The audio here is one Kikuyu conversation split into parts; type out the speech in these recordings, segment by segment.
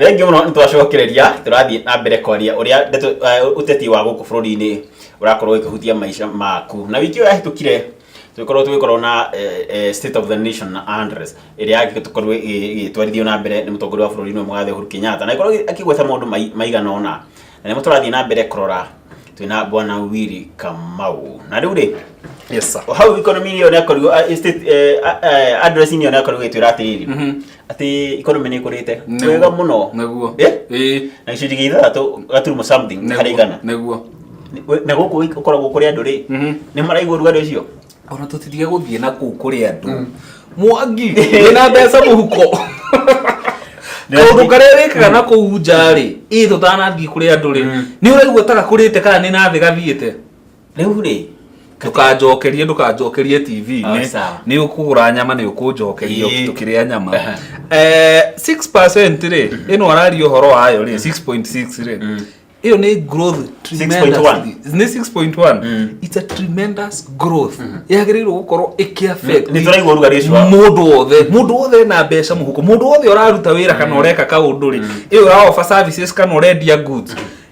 rĩngĩ mũno nĩ twacokereria tũrathiĩ na mbere kwaria ũrĩa ndeto eh, ũteti wa gũkũ bũrũri-inĩ ũrakorwo ũkĩhutia maica maku na wiki ĩyo yahĩtũkire tũgĩkorwo tũgĩkorwo na eh, eh, state of the nation na address ĩrĩa agĩkorwo ĩgĩtwarithio na mbere nĩ mũtongoria wa bũrũri nĩ mũgathe Uhuru Kenyatta na ikorwo akĩgweta maũndũ mai- maigana ona na nĩmo tũrathiĩ na mbere kũrora twĩna bwana Willy Kamau na rĩu rĩ yes sir hau economy ĩyo nĩ akorirwo eh, state eh, eh, address inĩ ĩyo nĩ akorirwo ĩgĩtwĩra atĩrĩrĩ atĩ economy nĩ ĩkũrĩte Nĩguo. wega mũno Nĩguo. Eh? Ĩĩ. na gĩcunjĩ gĩa ithathatũ gaturumo something Nĩguo. harĩ igana Nĩguo. We- na gũkũ gĩ- ũkoragwo kũrĩ andũ rĩ Mhm. nĩ maraigua ũrugarĩ ũcio Ona tũtitige gũthiĩ na kũu kũrĩ andũ. Mwangi, wĩna mbeca mũhuko. Kaũndũ karĩa wĩkaga na kũu nja rĩ, ĩ tũtanathiĩ kũrĩ andũ rĩ, nĩ ũraigua ta gakũrĩte kana nĩ na thĩ gathiĩte. rĩu rĩ ndũkanjokerie ndũkanjokerie Oh, tv-inĩ sawa. nĩ ũkũgũra nyama nĩ ũkũnjokeria Ĩĩ. tũkĩrĩa nyama Aha. Eh, 6% rĩ ĩno araria ũhoro wayo rĩ 6.6 rĩ ĩyo nĩ growth 6.1. tremendously. nĩ 6.1 Mm. it's a tremendous growth yagĩrĩirwo gũkorwo ĩkĩaffect Nĩ tũraigua ũrugarĩ ũcio wa- mũndũ wothe mũndũ wothe ena mbeca mũhuko mũndũ wothe ũraruta wĩra kana ũreka kaũndũ rĩ ĩyo ũraofa services kana ũrendia goods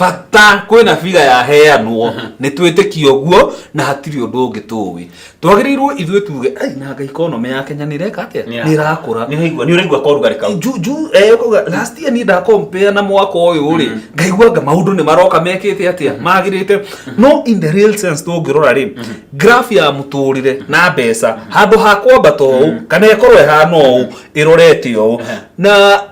bata kwĩna biga yaheanwo nĩ twĩtĩkia ũguo na hatirĩ ũndũ ũngĩ tũĩ twagĩrĩirwo ithuĩ tuge "Ai, na ngai economy ya kenya nĩ ĩreka atĩa Nĩ nĩ ĩrakũra nĩũraigua nĩũraigua korugarĩ kau ju ju eh, ukauga last year niĩ ndakompea na mwaka ũyũ rĩ ngaiguanga maũndũ nĩ maroka mekĩte atĩa magĩrĩte no in the real sense tũngĩrora rĩ graph ya mũtũrĩre na mbeca handũ ha kwambata ũũ kana ĩkorwo ĩhana ũũ ĩrorete ũũ na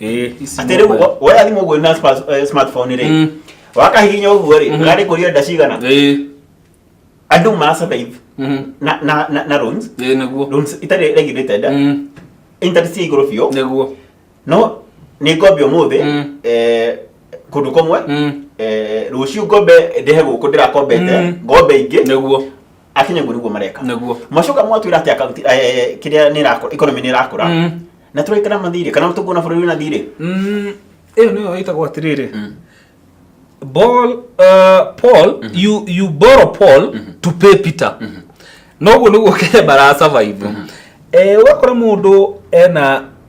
Eh, ici atĩrĩ mobile. wo- woya thimũ ũguo na spa- eh, smartphone rĩ Mm. wakahihinya ũguo rĩ Mhm. ũrarĩ kũria nda cigana Eh, andũ ma survive mhm. na na na- na loans Eh, nĩguo loans itarĩ regulated Mm, interest ya igũrũ biũ nĩguo no nĩ ngombe ũmũthĩ Mm. eh, kũndũ kũmwe Mm, eh, rũciũ ngombe ndĩhe gũkũ ndĩrakombete Mm. ngombe ingĩ nĩguo akinye guo niguo mareka Nĩguo. macoka mwatwira ati akaunti eh, kiria ni rakura economy ni rakura Mm. na turaikara mathire kana tukuona bururi wina thire Mm, ĩyo nĩyo ĩtagwo atĩrĩrĩ Ball, uh, paul you, you borrow paul to pay peter noguo nĩguo kenya marasurvive Eh, ũgakora mũndũ ena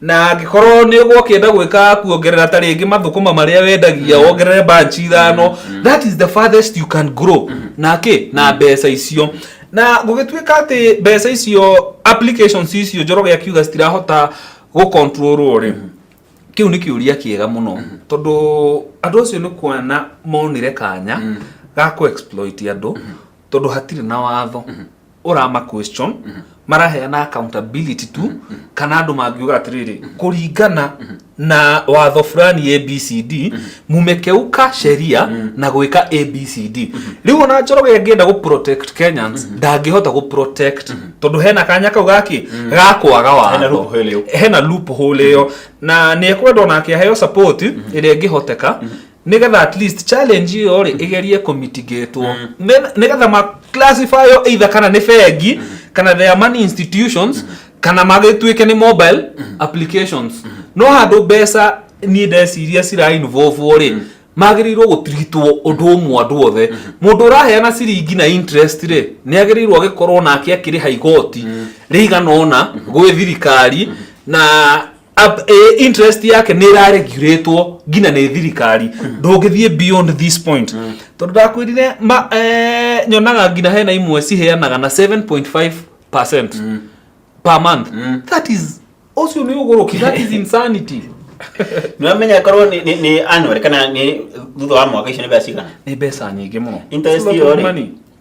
na angĩkorwo nĩ ũgwo ũkĩenda gwĩka kuongerera ta rĩngĩ mathũkũma marĩa wendagia wongerere banch ithano that is the farthest you can grow na kĩ na mbeca icio na gũgĩtuĩka atĩ mbeca icio applications icio njoroge akiuga citirahota gũkontrolwo rĩ kĩu nĩ kĩũria kĩega mũno tondũ andũ acio nĩ kuona monire kanya ga kũ exploit andũ tondũ hatirĩ na watho ũrama question maraheana accountability tu kana andũ mangiuga atĩrĩrĩ kũringana na watho fulani abcd mumekeuka sheria na gwĩka abcd rĩu ona njoroge angĩenda gũ protect kenyans ndangĩhota gũ protect tondũ hena kanya kau gaki ga kwaga Hena watho loophole ĩyo. hena loophole ĩyo na nĩ ekwenda ona akĩaheo support ĩrĩa ĩngĩhoteka nigetha at least challenge iyo ri igerie ku mitigate wo nigetha ma classify yo either kana ni bengi kana there are money institutions kana magituike ni mobile applications no handu mbeca ni ndeciria cira involve wo ri magĩrĩirwo gũtiritwo ũndũ ũmwe andũ othe mũndũ ũraheana ciringi na interest rĩ nĩ agĩrĩirwo agĩkorwo nake akĩrĩha igoti rĩigana ũna gwĩ thirikari na Ab- eh, interest yake nä iraregurätwo nginya nä thirikari ndångä thiä beyond this point tondå ndakwä rire nyonaga nginya hena imwe ciheanaga na 7.5 percent per month that is ũcio nä å gå rå ki that is insanity nĩwamenya korwo nĩ- nĩ nĩ annual kana nĩ thutha wa mwaka icio nĩ mbeca cigana nä mbeca nyingä må no interest iyo rĩ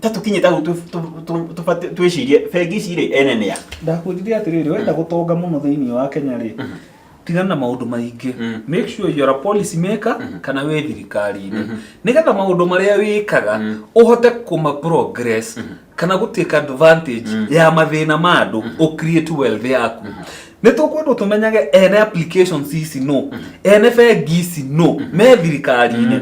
tatukinye tau tu- tu- tu- tubate- twĩcirie bengi ici rĩ ene nĩa ndakwĩrire atĩrĩrĩ wenda gũtonga mũno thĩinĩ wa kenya rĩ tigana na maũndũ maingĩ Mm. make sure you're a policy maker kana wĩ thirikari-inĩ nĩgetha maũndũ marĩa wĩkaga ũhote kũma progress kana gũtĩka advantage ya mathĩna ma andũ ũ create wealth yaku nä tå kwendwo tå menyage ene applications ici no ene bengi ici no me thirikari-inä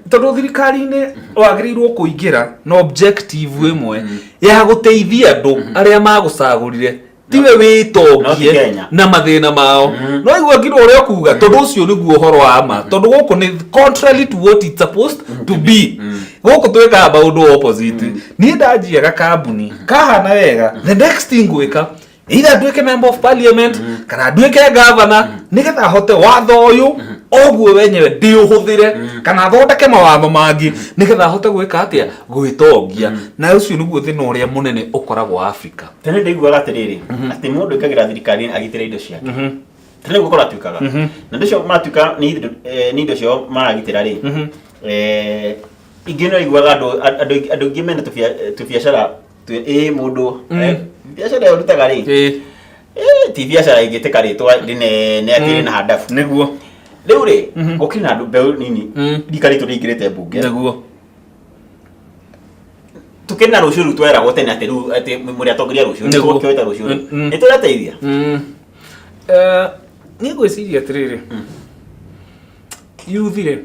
tondå thirikari-inä wagä rä irwo kå ingä ra na objective ä mwe ya gå teithia andå arä a magå cagå rire tiwe No ti wĩtongie Kenya. na mathĩna mao no igua ngirwo ũrĩa ũkuga tondũ ũcio nĩguo ũhoro wa ma tondũ gũkũ nĩ contrary to what it's supposed to be gũkũ twĩkaga maũndũ opposite niĩ ndanjia gakambuni kahana wega the next thing gwĩka either atuĩke member of parliament kana atuĩke governor nĩgetha ahote watho ũyũ oguo wenyewe ndĩũhũthĩre kana athondeke mawatho mangĩ nĩgetha ahote gwĩka atĩa gwĩtongia na ũcio nĩguo thĩna ũrĩa mũnene ũkoragwo wa africa tene ndaiguaga atĩrĩrĩ atĩ mũndũ ĩkagĩra thirikari agitĩra indo ciake tene gũkorwo atuĩkaga na ndĩcio maratuĩka nĩ indo- eh, nĩ indo ciao maragitĩra rĩ eh, ingĩ nĩ aiguaga andũ andũ aingĩ- andũ aingĩ mena tũbia- tũbiacara Twe- ĩ mũndũ Mm. eh, biacara ĩyo rutaga rĩ ĩ ĩ, ti biacara ingĩtĩka rĩtwa rĩnene atĩ Mm. rĩna handabu nĩguo rĩu rĩ Mhm. gũkĩrĩ na andũ mbeũ nini Mm. rika ritũ rĩingĩrĩte mbunge nĩguo tũkĩrĩ na rũciũ rĩu tweragwo tene atĩ rĩu atĩ mũrĩ atongoria rũciũ Nĩguo. nĩtũkĩoita rũciũ rĩu Mm. nĩ tũrateithia Mm. Eh, niĩ ngwĩciria atĩrĩrĩ yuthi rĩ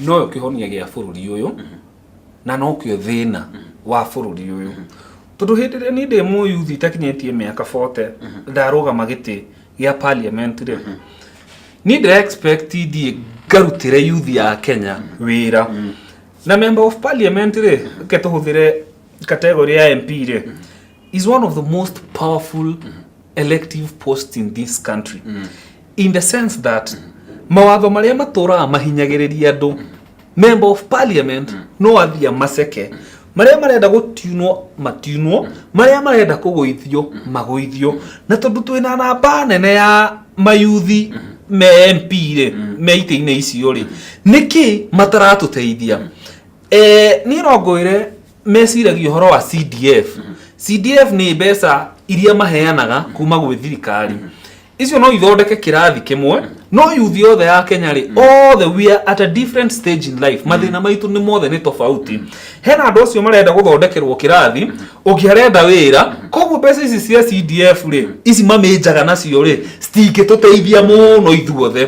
noyo kĩhonia gĩa bũrũri ũyũ na no kĩo thĩna wa bũrũri ũyũ tondũ hĩndĩ ĩrĩa niĩ ndĩ mũyuthi itakinyĩtie mĩaka 40 ndarũgama gĩtĩ gĩa parliament rĩ niĩ ndĩ expect thiĩ ngarutĩre yuthi ya kenya wĩra na member of parliament rĩ reke tũhũthĩre category ya mp rĩ is one of the most powerful elective posts in this country in the sense that mawatho marĩa matũraga mahinyagĩrĩria andũ member of parliament no athiĩ amaceke marĩa marenda gũtunwo matunwo marĩa marenda kũgũithio magũithio na tondũ twĩna namba nene ya mayuthi me mp rĩ me itĩ-inĩ icio rĩ nĩkĩ mataratũteithia Eh, niĩ no ngwĩre meciragia ũhoro wa cdf cdf nĩ mbeca iria maheanaga kuma gwĩ thirikari icio no ithondeke kĩrathi kĩmwe no yuthi yothe ya kenya rĩ othe we are at a different stage in life mathĩna maitũ nĩ mothe nĩ tofauti hena andũ acio marenda gũthondekerwo kĩrathi ũngĩ arenda wĩra koguo mbeca ici cia cdf rĩ ici mamĩnjaga nacio rĩ citingĩtũteithia mũno ithuothe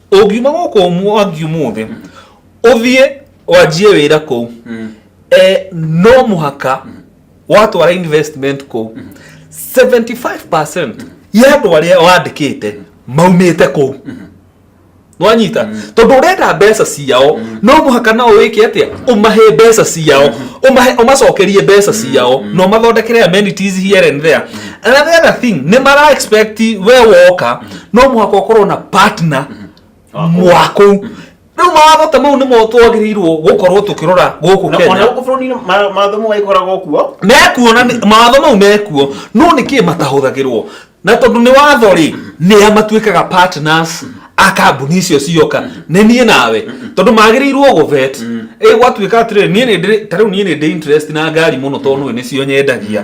ũngiuma gũkũ mwangi ũmũthĩ ũthiĩ wanjie wĩra kũu eh, no mũhaka watwara investment kũu 75% ya andũ arĩa wandĩkĩte maumĩte kũu nwanyita tondũ ũrenda mbeca ciao no mũhaka nao wĩke atĩa ũmahe mbeca ciao ũmahe ũmacokerie mbeca ciao na ũmathondekere amenities here and there another thing nĩ mara expect we woka no mũhaka ũkorwo na partner mwaku rĩu mawatho ta mau nĩmo twagĩrĩirwo gũkorwo tũkĩrora gũkũ Na ona kenya gũkũ bũrũri-inĩ ma- mawatho mau magĩkoragwo kuo mekuo na nĩ- mawatho mau mekuo no nĩ kĩ matahũthagĩrwo na tondũ nĩ watho rĩ nĩa matuĩkaga partners a kambuni icio cioka nĩ niĩ nawe tondũ magĩrĩirwo gũvet ĩ gwatuĩka atĩrĩ niĩ nĩ ndĩrĩ ta rĩu niĩ nĩ ndĩ interest na ngari mũno tondũ nĩ nĩcio nyendagia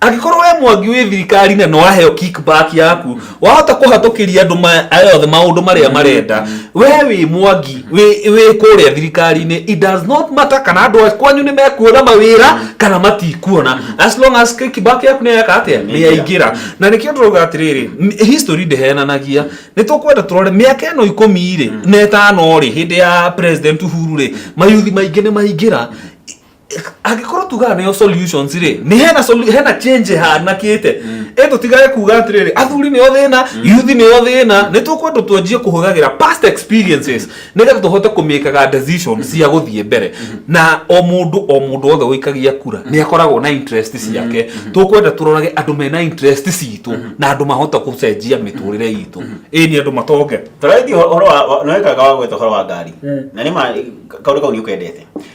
angĩkorwo we mwangi wĩ thirikari na nĩwaheo kickback yaku wahota kũhatũkĩria andũ ma- aya othe maũndũ marĩa marenda we wĩ mwangi wĩ wĩ kũrĩa thirikari-inĩ it does not matter kana andũ a kwanyu nĩ mekuona mawĩra kana matikuona as long as kickback yaku nĩ yeka atĩa nĩ yaingĩra na nĩkĩo tũrauga atĩrĩrĩ n- history ndĩhenanagia nĩ tũkwenda tũrore mĩaka ĩno ikũmi-rĩ na ĩtano-rĩ hĩndĩ ya president uhuru-rĩ mayuthi maingĩ nĩ maingĩra angĩkorwo tugaga nĩyo solutions rĩ nĩ hena solu- hena change hanakĩte ĩndũ tigage kuga atĩrĩrĩ athuri nĩo thĩna youth nĩo thĩna nĩ tũkwendwo twanjie kũhũthagĩra past experiences nĩgetha tũhote kũmĩkaga decision cia gũthiĩ mbere na o mũndũ o mũndũ wothe ũikagia kura nĩ akoragwo na interest ciake tũkwenda tũrorage andũ mena interest citũ na andũ mahota gũcenjia mĩtũrĩre itũ ĩĩ nĩ andũ matonge tũraithia ũhoro wa nĩwekaga wa gwetha ũhoro wa ngari na nĩ ma kaũndũ kau nĩ ũkendete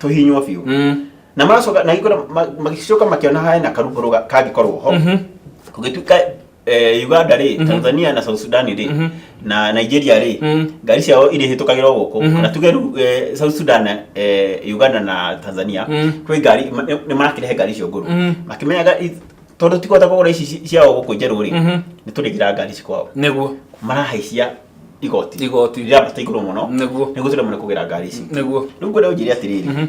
tũhinywo biũ Mm. na macoka na igũrũ ma- magĩcoka makĩona harĩ na karũgũrũ ga- kangĩkorwo ho Mhm. kũgĩtuĩka eh, uganda rĩ tanzania na south sudan rĩ Mhm. na nigeria rĩ Mm. ngari ciao irĩ hĩtũkagĩra o gũkũ Mhm. na tuge rĩu eh, south sudan eh, uganda na tanzania Mm. kwĩ ngari ma- nĩ marakĩrehe ngari icio ngũrũ Mm. makĩmenyaga i- tondũ tikũhota kũgũra ici ci- ciao gũkũ njerũ rĩ Mhm. nĩ tũrĩgĩra ngari cikwao nĩguo marahaicia igoti Igoti. rĩrambata igũrũ mũno Nĩguo. nĩguo tũremane kũgera ngari ici Nĩguo. rĩu ngwenda ũnjĩre atĩrĩrĩ Mhm.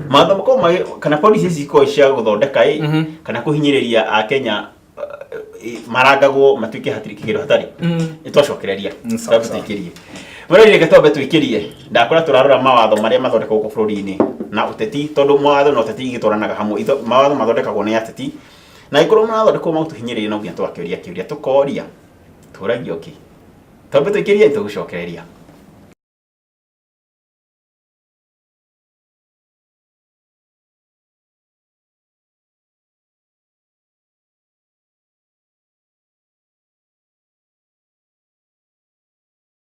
matho makorwo magĩ- kana polisi ici ikorwo cia gũthondeka ĩ Mhm. kana kũhinyĩrĩria akenya marangagwo matuĩke hatirĩ kĩgero hatarĩ Mm. nĩ twacokereria Mm, sawa, Twambe sawa. tũikĩrie mũrĩrĩ reke twambe tũikĩrie ndakora tũrarora mawatho marĩa mathondekagwo gũkũ bũrũri-inĩ na ũteti tondũ mawatho na ũteti igĩtwaranaga hamwe Itho- mawatho mathondekagwo nĩ ateti na angĩkorwo marathondekwo magũtũhinyĩrĩria no nginya twakĩũria kĩũria tũkoria tũragio kĩ tondũ twĩkĩria itũgũcokereria